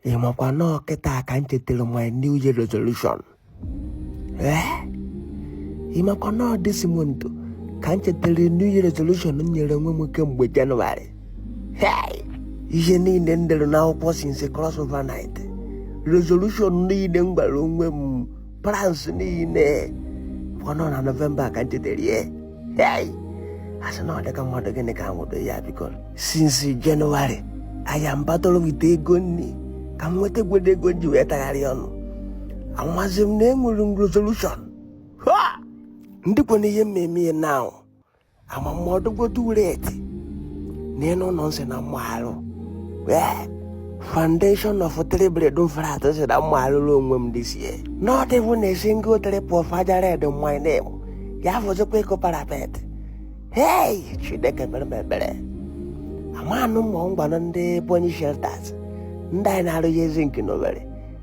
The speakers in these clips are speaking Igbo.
ị makwa na ọ kịta ka m chetara my new year resolution ee ị makwa na ọ this month ka m chetara new year resolution m nyere onwe m kemgbe January Hey! ihe niile m dere n'akwụkwọ since crossover night resolution niile m gwara onwe m plans niile ọ na November ka m chetere ya hey! asị na ọ dịka mmadụ gịnị ka nwụdo ya because since January I am battling with ego nri ka m nwetagodu ego ji wee tagharị ọnụ amazi m na enwere m resolution Ha! ndịkwanụ ihe m ma-eme ya now ama m ọ dịgodu reti n'elu ụlọ m sị na m ma-arụ foundation of three bed flat sị na m ma-arụrụ onwe m this year not even a single trip of aja red in my name ya fọzikwa ịkụ parapet hey chineke mere m ebere amanụ mmụọ ngwanụ ndị bonyi shelters ndị anyị na-arụghị ezi nke n'Owere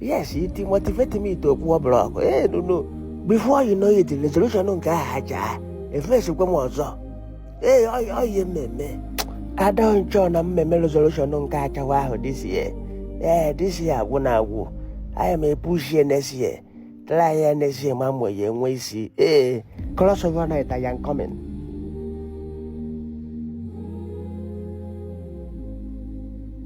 yes it motivated me to kpụọ block ee eh, nunu before you know it resolution nke ahụ ha ji aha efesikwa m ọzọ ee ọ ihe m ma-eme adọnchọ na mmemme resolution nke achawa ahụ this year ee eh, this year agwụna agwụ aya m epushie next year try ya next year ma mgbe ya enwe isi ee eh, crossover night I am coming